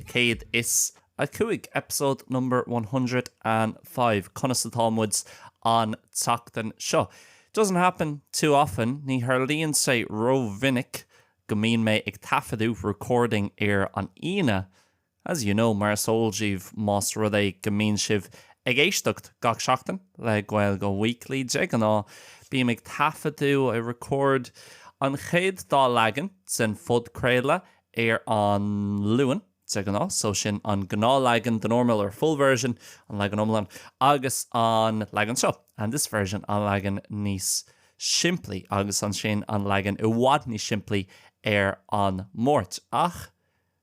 Céad is a cúig, episode number one hundred and five, Conas atá muid an tseachtain seo? Doesn't happen too often, Ní tharlaíonn sé rómhinic go mbíonn mé ag taifeadadh, recording, ar an Aoine, as you know, mar is eol daoibh, más rud é go mbíonn sibh ag éisteacht gach seachtain le Gaeilge Weekly. De ghnáth, bím ag taifeadadh, I record, an chéad dá leagan den phodchraoladh ar an Luan, de ghnáth, so sin an gnáthleagan, the normal or full version, an leagan iomlán, agus an leagan seo, and this version, an leagan níos simplí, agus ansin an leagan i bhfad níos simplí, ar an Máirt. Ach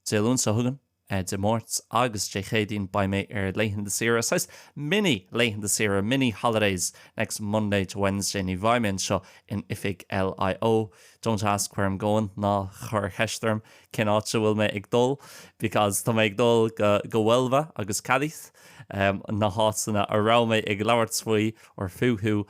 Dé Luain, seo chugainn, Dé Máirt agus Dé Céadaoin, beidh mé ar laethanta saoire, saghas mini-laethanta saoire, mini-holidays, next Monday to Wednesday, ní bheidh mé anseo in oifig LIO, Don't ask where I'm going, ná cuir ceist orm cén áit a bhfuil mé ag dul, because tá mé ag dul go Huelva agus Cádiz, na háiteanna a raibh mé ag labhairt faoi, or fúthu,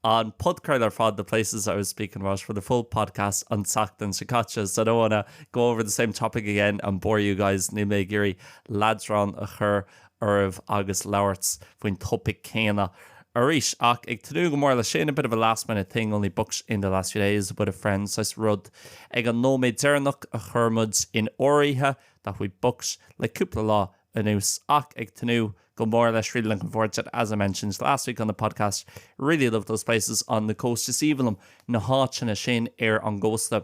an podchraoladh ar fad, the places I was speaking about for the full podcast an tseachtain seo caite. So I don't wanna go over the same topic again and bore you guys, níl mé ag iarraidh leadrán a chur. oraibh agus labhairt faoin topaic céanna arís. Ach ag tnúth go mór le sin, a bit of a last minute thing, only booked in the last few days with a friend saghas rud ag an nóiméad deireanach a chuir muid in áirithe that we booked le cúpla lá anuas ach ag tnúth go mór leis really looking forward to it as I mentioned last week on the podcast really love those places on the coast is aoibhinn liom na háiteanna sin ar an gcósta.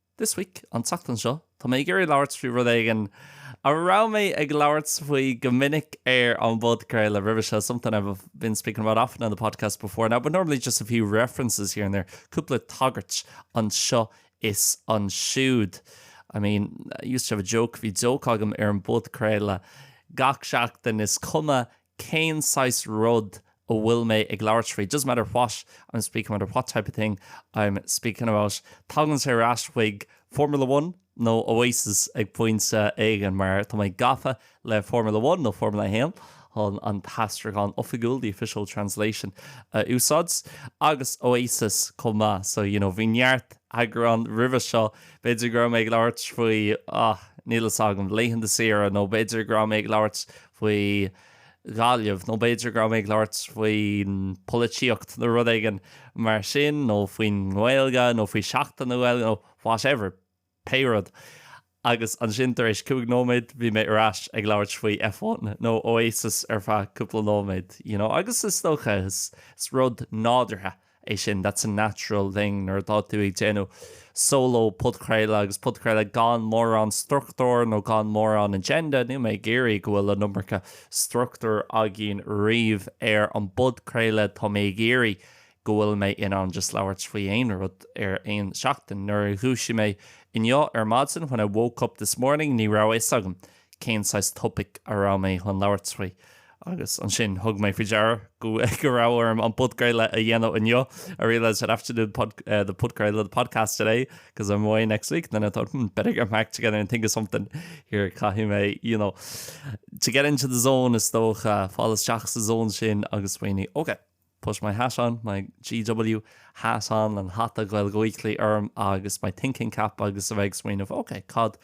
This week, an tseachtain seo, tá mé ag iarraidh labhairt faoi rud éigin a raibh mé ag labhairt faoi go minic ar an bpodchraoladh roimhe seo, something I've been speaking about often on the podcast before now, but normally just a few references here and there, cúpla tagairt anseo is ansiúd. I mean, I used to have a joke, bhí joke agam ar an bpodchraoladh gach seachtain, is cuma cén saghas rud a bhfuil mé ag labhairt faoi, it doesn't matter what I'm speaking about or what type of thing I'm speaking about. Tagann sé ar ais chuig Formula One nó Oasis ag pointe éigin mar tá mé gafa le Formula One nó Formula a hAon chun an t-aistriúchán oifigiúil, the official translation, a úsáid, agus Oasis chomh maith. So, you know, bhí neart eagrán roimhe seo, b'fhéidir go raibh mé ag labhairt faoi, ah, níl a fhios agam, laethanta saoire nó b'fhéidir go raibh mé ag labhairt faoi Ghaillimh, nó b'fhéidir go raibh mé ag labhairt faoin pholaitíocht nó rud éigin mar sin, nó faoin nGaeilge, nó faoi Sheachtain na Gaeilge, nó whatever, pé rud. Agus ansin tar éis cúig nóiméad, bhí mé ar ais ag labhairt faoi F1 nó Oasis ar feadh cúpla nóiméad, you know. Agus is dócha, is rud nádúrtha é sin, that's a natural thing nuair atá tú ag déanamh solo podchraoladh agus podchraoladh gan mórán struchtúir nó gan mórán agenda, níl mé ag iarraidh go bhfuil an iomarca struchtúir againn riamh ar an bpodchraoladh, tá mé ag iarraidh go bhfuil mé in ann just labhairt faoi aon rud ar aon seachtain. Nuair a dhúisigh mé inniu ar maidin, when I woke up this morning, ní raibh a fhios agam. cén saghas topaic a raibh mé chun labhairt faoi agus ansin thug mé faoi deara go raibh orm an podchraoladh a dhéanamh inniu, I realised I'd have to do the podchraoladh, the podcast today because I'm away next week and then I thought hmm, better get back together and think of something here caithfidh mé you know to get into the zone is dócha fáil isteach sa zón sin agus smaoineamh. Okay. Put my hat on, my GW hat on, an hata Gaeilge Weekly orm agus my thinking cap agus a bheith ag smaoineamh, ok, cad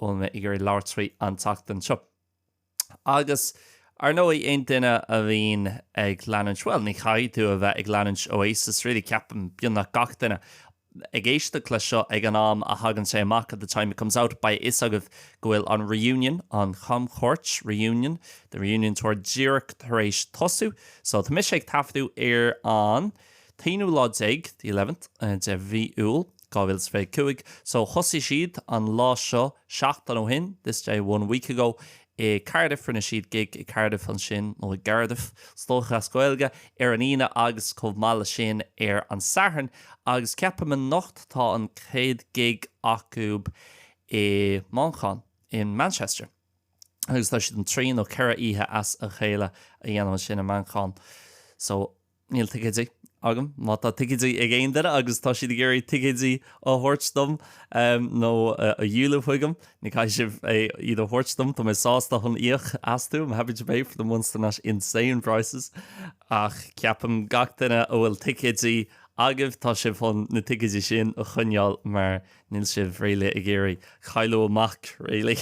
bhfuil mé ag iarraidh labhairt faoi an tseachtain seo. Agus ar ndóigh aon duine a bhíonn ag leanúint, bhuel ní chaithfidh tú a bheith ag leanúint Oasis really ceapaim beagnach gach duine ag éisteacht leis seo ag an am a thagann sé amach at the time it comes out beidh a fhios agaibh go bhfuil an reunion, an chamchuairt reunion, the reunion tour díreach tar éis tosú. So tá mise ag taifeadadh ar an t-aonú lá déag the eleventh de mhí Iúil, dhá mhíle is fiche cúig. So thosaigh siad an lá seo seachtain ó shin this day one week ago i Cardiff, rinne siad gig i gCardiff ansin, nó i gCardiff, is dócha, as Gaeilge ar an Aoine agus chomh maith leis sin ar an Satharn, agus ceapaim anocht tá an chéad gig acu i Manchain, in Manchester, agus tá siad chun trí nó ceithre oíche as a chéile a dhéanamh ansin i Manchain. So. Níl ticéidí agam. Má tá ticéidí ag aon duine agus tá siad ag iarraidh ticéidí a thabhairt dom nó a dhíoladh chuigim, ní caithfidh sibh iad a thabhairt dom. Tá mé sásta chun íoc astu, I'm happy to pay for them once they're not insane prices. Ach ceapaim gach duine a bhfuil ticéidí agaibh, tá sibh chun na ticéidí sin a choinneáil mar Níl sibh really ag iarraidh cailleadh amach really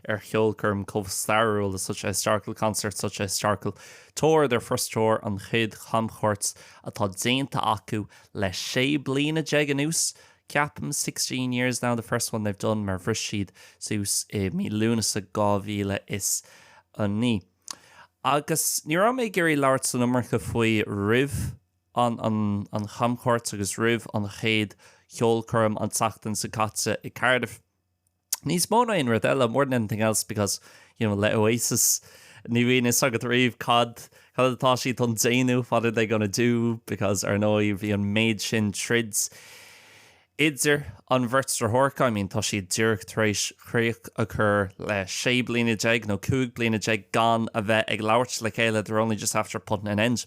ar cheolchoirm chomh stairiúil le such a historical concert, such a historical tour, their first tour, an chéad chamchuairt atá déanta acu le sé bliana déag anuas ceapaim, sixteen years now, the first one they've done mar bhris siad suas i mí Lúnasa 2009. Agus ní raibh mé ag iarraidh labhairt san iomarca faoi roimh ann an chamchuairt agus roimh an chéad cheolchoirm an tseachtain seo caite i Cardiff. Níos mó ná aon rud eile, more than anything else, because, you know, le Oasis, ní bhíonn fhios agat riamh cad atá siad chun déanamh, what are they gonna do, because, ar ndóigh, bhí an méid sin troid idir an bheirt deartháireacha, I mean, tá siad díreach tar éis críoch a chur le sé bliana déag nó cúig bliana déag gan a bheith ag labhairt le chéile, they're only just after putting an end.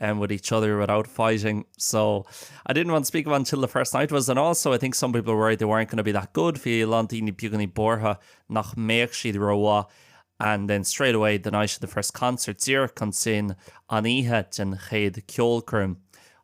with each other without fighting so I didn't want to speak about until the first night was and also I think some people were worried they weren't going to be that good bhí a lán daoine beagáinín buartha nach mbeadh siad rómhaith and then straight away the night of the first concert díreach ansin an oíche den chéad ceolchoirm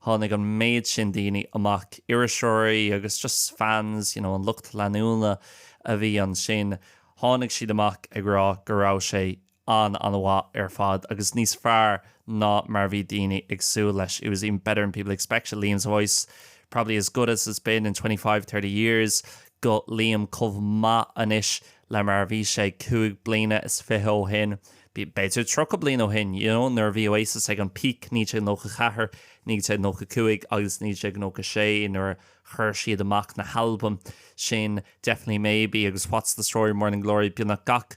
tháinig an méid sin daoine amach iriseoirí agus just fans you know an lucht leanúna a bhí ansin tháinig siad amach ag rá go raibh sé an-an-mhaith ar fad agus níos fearr ná mar a bhí daoine ag súil leis, It was even better than people expected, Liam's voice probably as good as it's been in twenty five, thirty years, guth Liam chomh maith anois le mar a bhí sé cúig bliana is fiche ó shin, b'fhéidir tríocha bliain ó shin, you know, nuair a bhí Oasis ag an bpeak, naoi déag nócha ceathair, naoi déag nócha cúig agus naoi déag nócha sé nuair a chuir siad amach na halbaim sin Definitely Maybe agus What's the Story, Morning Glory, beagnach gach.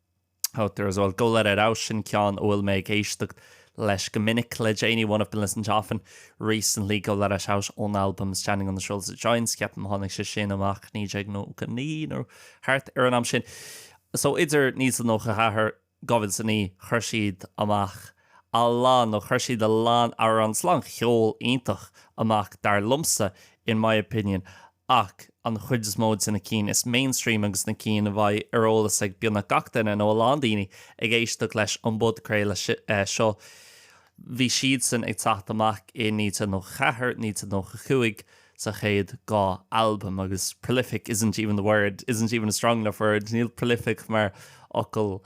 Oh, there is, well, Go Let It Out, sin ceann a bhfuil mé ag éisteacht leis go minic le déanaí, one I've been listening to often recently, Go Let It Out ón albam Standing on the Shoulder of Giants, ceapaim tháinig sé sin amach 1999 nó thart ar an am sin. So idir 1994, 2009, chuir siad amach a lán, nó chuir siad a lán, a lán ceol iontach amach dar liomsa, in my opinion. ach an chuid is mó dos na cinn is mainstream agus na cinn a bheidh ar eolas ag beagnach gach duine, nó a lán daoine, ag éisteacht leis an bpodchraoladh seo, bhí siadsan ag teacht amach i 1994, 1995, sa chéad dhá albam, agus prolific isn't even the word, isn't even a strong enough word, níl prolific mar fhocal,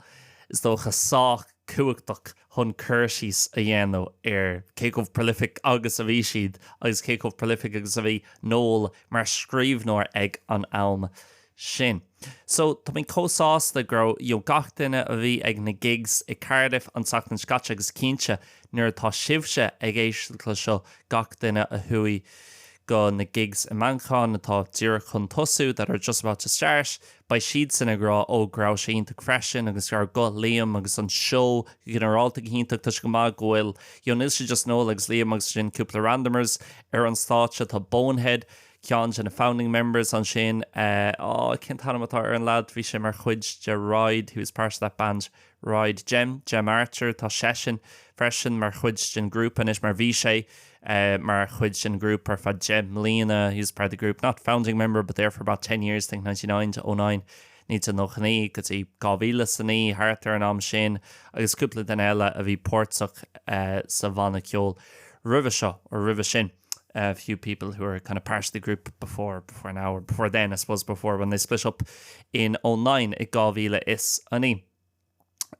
is dócha, sách. cumhachtach chun cur síos a dhéanamh ar cé chomh prolific agus a bhí siad agus cé chomh prolific agus a bhí Noel mar scríbhneoir ag an am sin. So, tá mé chomh sásta go raibh, you know, gach duine a bhí ag na gigs i Cardiff an tseachtain seo caite agus cinnte nuair atá sibhse ag éisteacht le seo, gach duine a chuaigh go na gigs i Manchain atá díreach chun tosú that are just about to start, Beidh siadsan ag rá, Ó, go raibh sé iontach freisin agus go raibh guth Liam agus an seó go ginearálta go hiontach. Tá sé go maith go bhfuil, you know, níl sé just Noel agus Liam agus ansin cúpla randomers ar an stáitse. Tá Bonehead, ceann dos na founding members ansin, eh, á, cén t-ainm atá ar an lad, bhí sé mar chuid de Ride, he was part of that band Ride, Gem, Gem Archer, tá seisean freisin mar chuid den ghrúpa anois, mar bhí sé mar chuid den ghrúpa ar feadh deich mbliana, he was part of the group, not founding member, but there for about ten years, I think ninety nine to oh nine, 1999 go dtí 2009, thart ar an am sin, agus cúpla duine eile a bhí páirteach sa bhanna ceoil roimhe seo, or roimhe sin. a few people who are kind of part of the group before, before now or before then, I suppose, before when they split up in 09, i 2009.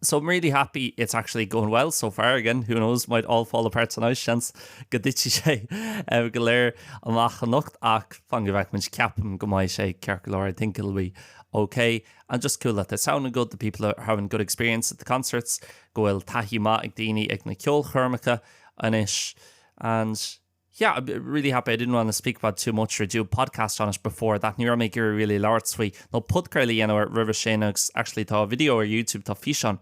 So I'm really happy it's actually going well so far. Again, who knows, might all fall apart tonight, seans go dtitfidh sé eh, go léir amach anocht ach fan go bhfeicmint ceapaim go mbeidh sé ceart go leor. I think it'll be okay and just cool that they're sounding good, the people are having good experience at the concerts, go bhfuil taithí maith ag daoine ag na ceolchoirmeacha anois And, yeah, I'm really happy I didn't want to speak about it too much or do a podcast on it before that, ní raibh mé ag iarraidh really labhairt faoi nó podchraoladh a dhéanamh air roimhe sin agus actually tá video ar YouTube, tá físeán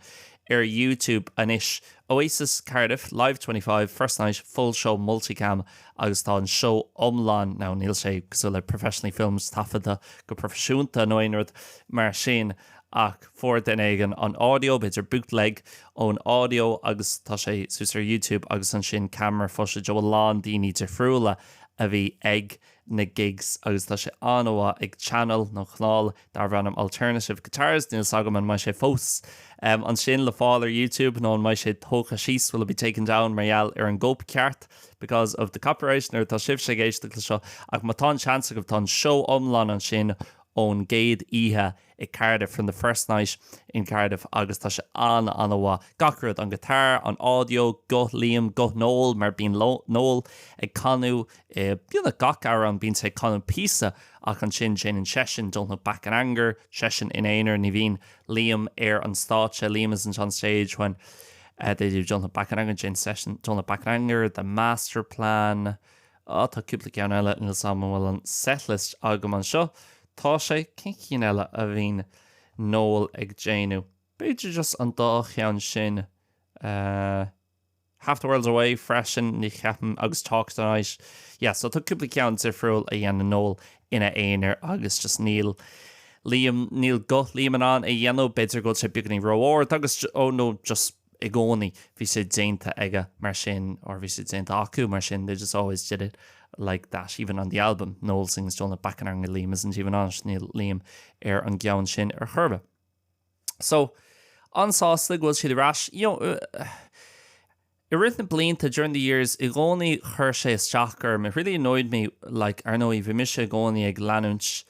ar YouTube anois, Oasis Cardiff, Live 25, first night, full show multi-cam agus tá an seó iomlán, now níl sé cosúil le professionally filmed taifeadta go proifisiúnta nó aon rud mar sin, ach fuair duine éigin an audio, b'fhéidir bootleg ón audio, agus tá sé suas ar YouTube agus ansin camera footage ó a lán daoine difriúla a bhí ag na gigs agus tá sé an-mhaith ag channel nó canál darb ainm Alternative Guitars, níl 's agam an mbeidh sé fós ansin le fáil ar YouTube nó an mbeidh sé tógtha síos, will it be taken down mar gheall ar an gcóipcheart, because of the copyright, nuair atá sibhse ag éisteacht le seo, ach má tá an seans agaibh tá an seó iomlán ansin ón gcéad oíche i Cardiff, from the first night in Cardiff, agus tá sé an- an-mhaith. Gach rud, an guitar, an audio, guth Liam, guth Noel, mar bíonn Noel ag canadh i, you know, gach amhrán bíonn sé ag canadh píosa ach ansin déanann seisean, don't look back in anger, seisean ina aonar, ní bhíonn Liam ar an stáitse, Liam isn't on stage when, uh, they do don't look back in anger, déanann seisean, don't look back in anger, the master plan, Ah, tá cúpla ceann eile, níl 's agam an bhfuil an setlist agam anseo, tá sé, cén chinn eile a bhíonn Noel ag déanamh, b'fhéidir just an dá cheann sin, eh, Half the World's Away freisin, ní cheapaim, agus Talk Tonight, yeah, so tá cúpla ceann difriúil a dhéanann Noel ina aonar agus just níl Liam, níl guth Liam in ann é a dhéanamh, b'fhéidir go bhfuil sé beagainín ró-ard agus, ó nó, just. i gcónaí, bhí sé déanta aige mar sin, or bhí sé déanta acu mar sin, they just always did it like that, even on the album, Noel sings Don't Look Back in Anger Liam isn't even on it, níl Liam ar an gceann sin ar chor ar bith. So, an-sásta go bhfuil siad ar ais. You know, uh, I rith na blianta during the years i gcónaí chuir sé isteach orm, it really annoyed me like ar ndóigh bhí mise i gcónaí ag leanúint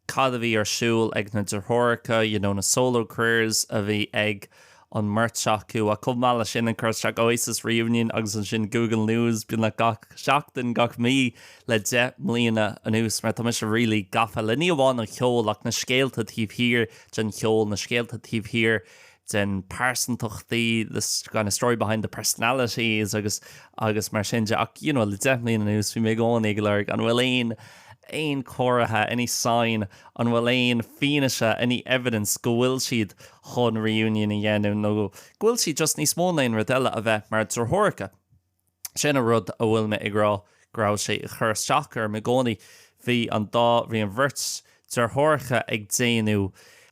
cad a bhí ar siúl ag na deartháireacha, you know, na solo careers a bhí ag an mbeirt acu. Ach chomh maith leis sin, ag cur isteach Oasis reunion agus ansin Google News beagnach gach seachtain, gach mí le deich mbliana anuas. Mar tá mise really gafa le ní amháin an cheol ach na scéalta taobh thiar den cheol, na scéalta taobh thiar den pearsantachtaí, the kind of story behind the personalities agus, agus mar sin de, ach you know, le deich mbliana anuas bhí mé i gcónaí ag lorg an bhfuil aon, aon chomhartha, any sign, an bhfuil aon fianaise, any evidence, go bhfuil siad chun reunion a dhéanamh nó go bhfuil siad just níos mó ná aon rud eile a bheith mar dheartháireacha. Sin an rud a bhfuil mé ag rá go raibh sé ag cur isteach orm i gcónaí, bhí an dá, bhí an bheirt deartháireacha ag déanamh,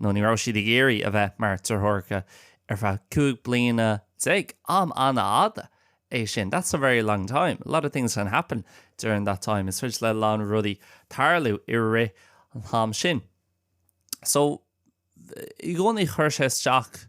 nó ní raibh siad ag iarraidh a bheith mar deartháireacha ar feadh cúig bliana déag, am an-fhada é sin, that's a very long time, a lot of things can happen during that time, is féidir le a lán rudaí tarlú i rith an am sin. So, i gcónaí chuir sé isteach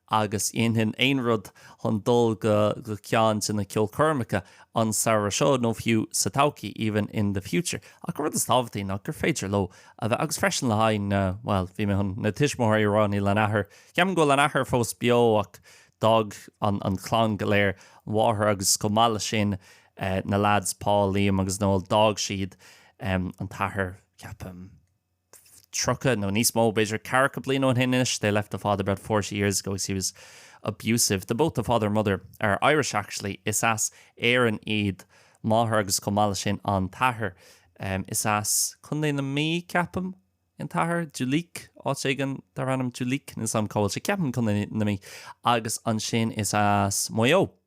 agus dhéanfainn aon rud chun dul go ceann de na ceolchoirmeacha an samhradh seo nó fiú sa todhchaí, even in the future. Ach an rud is tábhachtaí ná gur féidir leo a bheith agus freisin le haghaidh na, bhuel, bhí mé chun na tuismitheoirí a rá, níl an athair, ceapaim go bhfuil an athair fós beo ach d'fhág an chlann go léir, an mháthair agus chomh maith leis sin na leaids Paul, Liam agus Noel, d'fhág siad an t-athair, ceapaim. tríocha nó níos mó, b'fhéidir, ceathracha bliain ó shin anois, they left the father about forty years ago because he was abusive. The both the father and mother are Irish actually, is as Éirinn iad máthair agus chomh maith leis sin an t-athair. Is as Contae na Mí, ceapaim, an t-athair, Duleek, áit éigin darb ainm Duleek, níl 's agam cá bhfuil sé, ceapaim Contae na Mí, agus ansin is as Maigh Eo.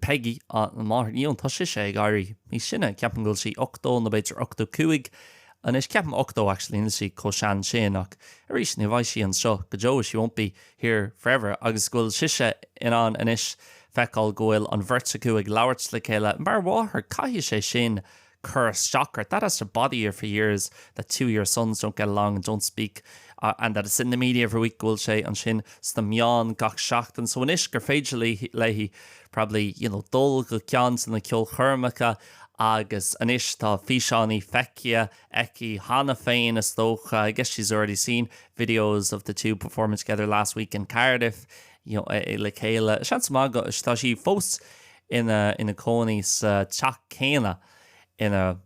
Peigí, Á, an mháthair féin, tá sise ag éirí níos sine. Ceapaim go bhfuil sí ochtó nó b'fhéidir ochtó cúig anois. Ceapaim ochtó actually, níl sí chomh sean sin ach arís ní bheidh sí anseo go deo, she won't be here forever, agus go bhfuil sise in ann anois feiceáil go bhfuil an bheirt acu ag labhairt le chéile. Mar mháthair caithfidh sé sin cur isteach ort, that has to bother you for years, that two of your sons don't get along and don't speak and that it's in the media every week, go bhfuil sé ansin sna meáin gach seachtain. So anois gur féidir léi probably you know, dul go ceann de na ceolchoirmeacha agus anois tá físeánaí feicthe aici cheana féin is dócha, I guess she's already seen videos of the two performing together last week in Cardiff you know, le chéile. Seans maith go bhfuil sí fós ina cónaí sa teach céanna inar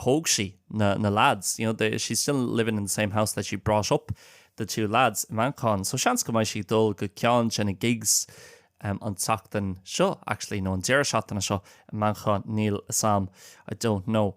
thóg sí na leaids, you know, she's still living in the same house that she brought up the two lads, i Manchain. So seans go mbeidh sí ag dul go ceann de na gigs an tseachtain seo, actually, nó an deireadh seachtaine seo i Manchain, níl 'fhios a'm, I don't know.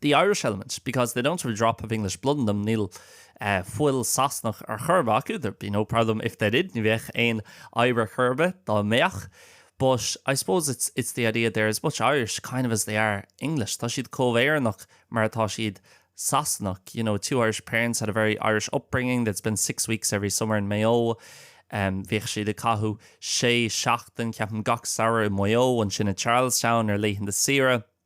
the Irish element, because they don't have a drop of English blood in them, níl fuil Sasanach ar chor ar bith acu, there'd be no problem if they did, ní bheadh aon fhadhb ar chor ar bith dá mbeadh. But I suppose it's it's the idea they're as much Irish, kind of, as they are English, tá siad comh Éireannach mar atá siad Sasanach, you know, two Irish parents had a very Irish upbringing, they'd spend six weeks every summer in Maigh Eo, bhíodh siad ag caitheamh sé seachtain, ceapaim, gach samhradh i Maigh Eo, ansin i Charlestown ar laethanta saoire.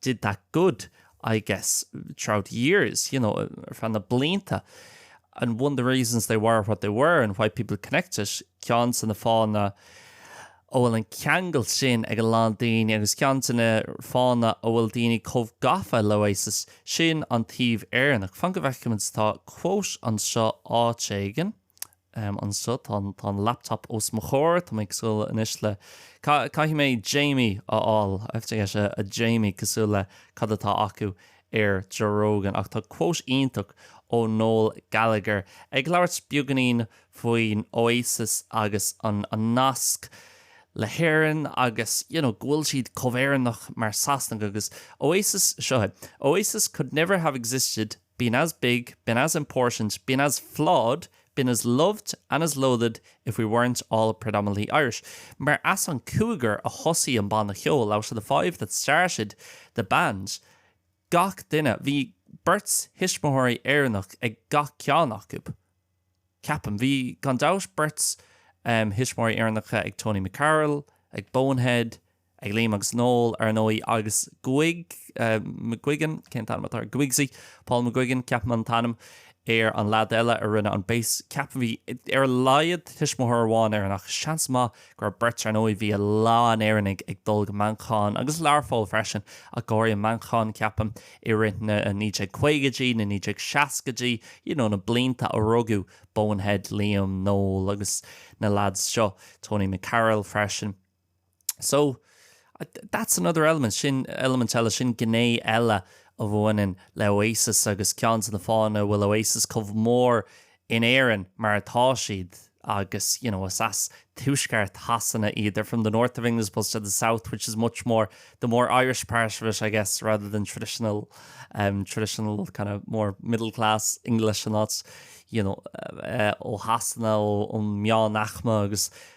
did that good, I guess, throughout years, you know, ar feadh na blianta and one of the reasons they were what they were and why people connected, ceann de na fáthanna a bhfuil an ceangal sin ag a lán daoine agus ceann de na fáthanna a bhfuil daoine comh gafa le Oasis sin an taobh Éireannach. Fan go bhfeicimid tá quote anseo áit éigin. em anseo tá an tá an laptop os mo chomhair tá mé cosúil anois le ca caithfidh mé Jamie a fháil I have to get a a Jamie cosúil le cad atá acu ar Joe Rogan ach tá quote iontach ó Noel Gallagher ag labhairt beagainín faoin Oasis agus an an nasc le hÉirinn agus you know go bhfuil siad chomh Éireannach mar Sasanach agus Oasis seo é Oasis could never have existed been as big, been as important, been as flawed, been as loved and as loathed if we weren't all predominantly Irish'. Mar as an cúigear a thosaigh an banna ceoil, 'out of the five that started the band', gach duine, bhí beirt thuismitheoirí Éireannach ag gach ceann acu, ceapaim. Bhí, gan dabht, beirt thuismitheoirí Éireannacha ag Tony McCarroll, ag Bonehead, ag Liam agus Noel, ar ndóigh, agus Guig, McGuigan, cén t-ainm atá ar Guigsy? Paul McGuigan, ceapaim an t-ainm ar an leaid eile a rinne an bass, ceapaim. Bhí, ar a laghad, tuismitheoir amháin Éireannach, seans maith go raibh beirt, ar ndóigh, bhí a lán Éireannaigh ag dul go Manchain agus Learpholl freisin, ach go háirithe Manchain, ceapaim, i rith na 1950idí, na 1960idí, you know, na blianta a rugadh Bonehead, Liam, Noel agus na leaids seo, Tony McCarroll freisin. So, that's another element, sin eilimint eile, sin gné eile a bhaineann le Oasis agus ceann de na fáthanna a bhfuil Oasis chomh mór in Éirinn mar atá siad agus, you know, is as tuaisceart Shasana iad, they're from the north of England as opposed to the south, which is much more, the more Irish part of it, I guess, rather than traditional, um, traditional kind of more middle class English and that's, you know, uh, ó Shasana, ó, ó meánaicme agus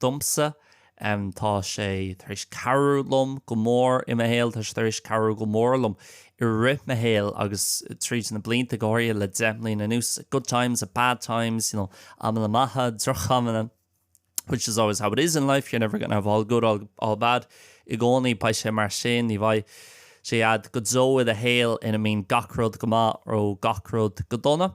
domsa. Tá sé tar éis cabhrú liom go mór i mo shaol. Tá sé tar éis cabhrú go mór liom i rith mo shaoil agus tríd na blianta, go háirithe le deich mbliana anuas. Good times and bad times, you know, amanna maithe, drochamanna, which is always how it is in life, you're never gonna have all good, all all bad, i gcónaí, beidh sé mar sin, ní bheidh sé a'd go deo i do shaol ina mbíonn gach rud go maith nó gach rud go dona.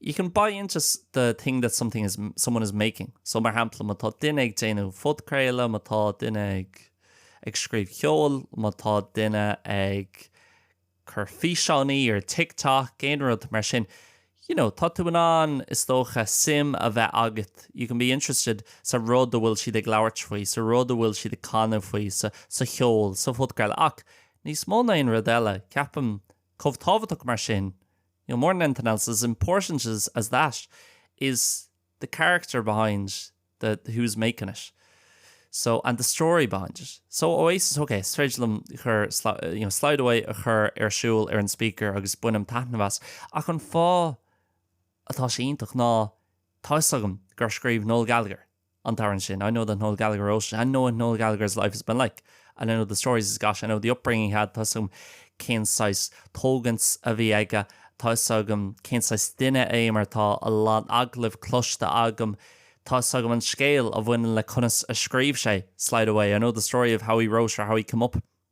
You can buy into the thing that someone is making. So, mar shampla, má tá duine ag déanamh podchraoladh, má tá duine ag, ag scríobh ceoil, má tá duine ag cur físeánaí ar TikTok, aon rud mar sin, you know, tá tú in ann, is dócha, sim a bheith agat. You can be interested sa rud a bhfuil siad ag labhairt faoi, sa rud a bhfuil siad ag canadh faoi, sa, sa cheol, sa phodchraoladh. Ach, níos mó na aon rud eile, ceapaim, chomh tábhachtach mar sin, More than anything else as important as that is the character behind who's making it so and the story behind it. So Oasis, ok, is féidir liom cur you know slide away a chur ar siúl ar an speaker agus bainim taitneamh as ach an fáth atá sé iontach ná tá fhios agam gur scríobh Noel Gallagher an t-amhrán sin, I know that Noel Gallagher wrote it I know what Noel Gallagher's life has been like, and I know the stories he's got, I know the upbringing he had, tá 'fhios agam cén saghas tógaint a bhí aige, tá 'fhios agam cén saghas duine é mar tá a lán agallamh cloiste agam, tá 'fhios agam an scéal a bhaineann le conas a scríobh sé Slide Away, I know the story of how he wrote or how he came up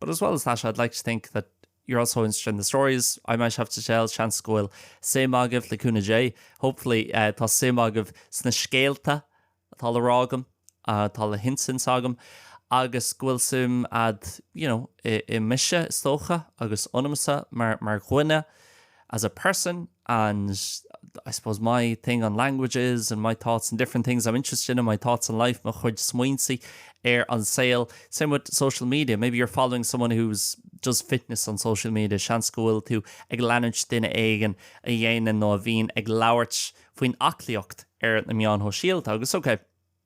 But as well as that I'd like to think that you're also interested in the stories I might have to tell, seans go bhfuil suim agaibh le cúnamh Dé, hopefully tá suim agaibh sna scéalta atá le rá agam, atá le hinsint agam, agus go bhfuil suim a'd, you know, i mise is dócha, agus ionamsa mar dhuine. as a person and I suppose my thing on languages and my thoughts on different things I'm interested in, my thoughts on life, mo chuid smaointe ar an saol. Same with social media, maybe you're following someone who does fitness on social media, seans go bhfuil tú ag leanúint duine éigin a dhéanann nó a bhíonn ag labhairt faoin aclaíocht ar na meáin shóisialta. Agus ok,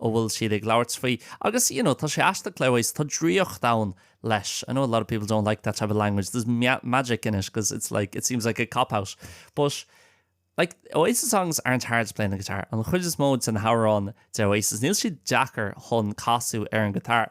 a bhfuil siad ag labhairt faoi agus you know tá sé aisteach le Oasis, tá draíocht ann leis. I know a lot of people don't like that type of language, there's magic in it cos it's like, it seems like a cop out but like Oasis songs aren't hard to play on the guitar, an chuid is mó de na hamhráin de Oasis níl siad deacair chun casadh ar an ghiotár.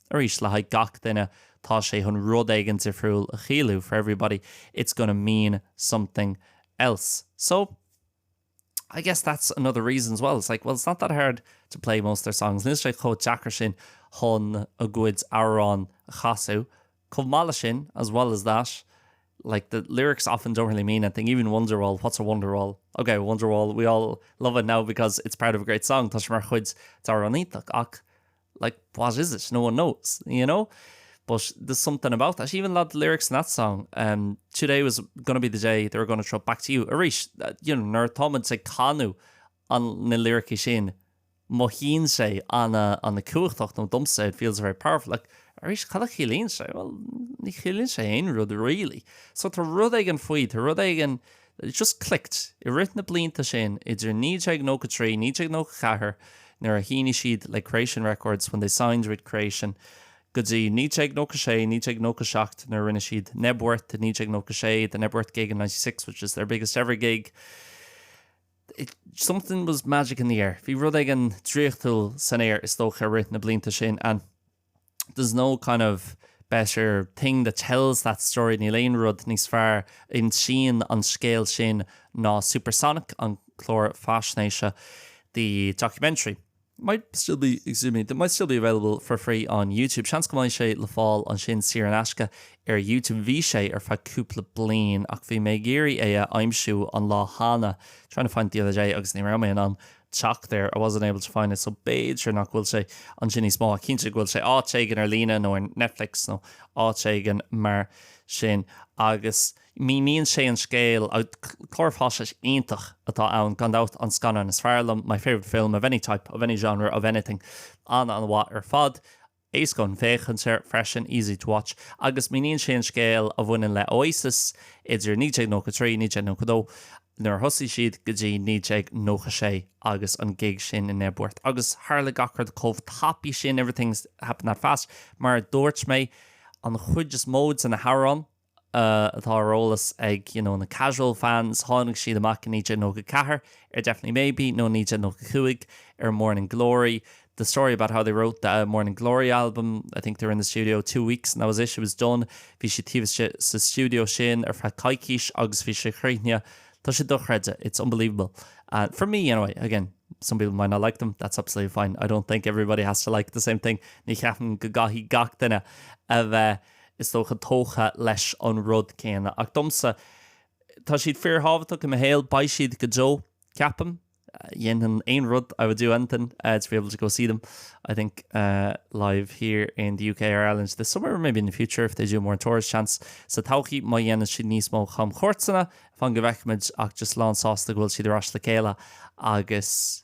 Arís, le haghaidh gach duine, tá sé chun rud éigin difriúil a chiallú, for everybody, it's gonna mean something else. So, I guess that's another reason as well, it's like, well, it's not that hard to play most of their songs, níl sé chomh deacair sin chun a gcuid amhrán a chasadh. Chomh maith leis sin, as well as that, like the lyrics often don't really mean anything, even Wonderwall, what's a Wonderwall? Okay, Wonderwall, we all love it now because it's part of a great song, tá sé mar chuid d'amhrán iontach, ach like what is it, no one knows, you know, but there's something about that, even a lot of the lyrics in that song, um, today was going to be the day they were going to throw it back to you, arís, you know, nuair atá muid ag canadh an, na liricí sin, mothaíonn sé an-, an-chumhachtach nó domsa it feels very powerful, like arís cad a chiallaíonn sé, well, ní chiallaíonn sé aon rud really, so tá rud éigin faoi, tá rud éigin. it just clicked. I rith na blianta sin idir 1993, 1994 nuair a shínigh siad le Creation Records when they signed with Creation go dtí 1996, 1997 nuair a rinne siad Knebworth i 1996, the Knebworth gig in ninety six which is their biggest ever gig, it, something was magic in the air. Bhí rud éigin draíochtúil san aer is dócha i rith na blianta sin and. there's no kind of better thing that tells that story níl aon rud níos fearr a insíonn an scéal sin ná Supersonic, an clár faisnéise the documentary. might still be available for free on YouTube. Seans go mbeidh sé le fáil ansin saor in aisce ar YouTube. Bhí sé ar feadh cúpla bliain ach bhí mé ag iarraidh é a aimsiú an lá cheana trying to find it the other day agus ní raibh mé in ann teacht air, I wasn't able to find it, so b'fhéidir nach bhfuil sé ansin níos mó, ach cinnte go bhfuil sé áit éigin ar líne nó ar Netflix nó áit éigin mar sin. Agus míníonn sé an scéal, clár faisnéis iontach atá ann gan dabht, an scannán is fearr liom, my favourite film of any type, of any genre, of anything, an-an-mhaith ar fad. Éasca le féachaint air freisin, easy to watch, agus míníonn sé an scéal a bhaineann le Oasis idir 1993, 1992, nuair a thosaigh siad, go dtí 1996 agus an gig sin i Knebworth. Agus tharla gach rud chomh tapaidh sin, everything happened that fast, mar a dúirt mé, an chuid is mó de na hamhráin, atá ar eolas ag na casual fans, tháinig siad amach i 1994 ar Definitely Maybe nó 1995 ar Morning Glory, the story about how they wrote the Morning Glory album, I think they were in the studio two weeks and that was it, it was done, bhí siad taobh istigh sa stiúideo sin ar feadh coicís agus bhí sé críochnaithe, tá sé dochreidte, it's unbelievable, uh, for me anyway, again, some people might not like them, that's absolutely fine, I don't think everybody has to like the same thing, ní cheapaim go gcaithfidh gach duine a bheith is dócha, tógtha leis an rud céanna. Ach domsa, tá siad fíorthábhachtach i mo shaol. Beidh siad go deo, ceapaim. Dhéanfainn aon rud, I would do anything, to be able to go see them, I think, live here in the UK or Ireland this summer or maybe in the future if they do more tours, seans, sa todhchaí, má dhéanann siad níos mó camchuairteanna, fan go bhfeicfimid, ach just lánsásta go bhfuil siad ar ais le chéile agus.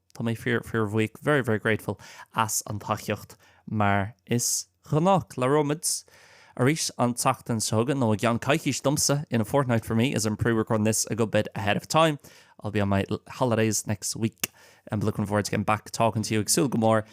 Tá mé fíor, fíorbhuíoch, very, very grateful, as an tacaíocht, mar is gnách. Labhróimid arís an tseachtain seo chugainn, nó i gceann coicís domsa, in a fortnight for me, as I'm pre-recording this a good bit ahead of time. I'll be on my holidays next week, and looking forward to getting back talking to you. Ag súil go mór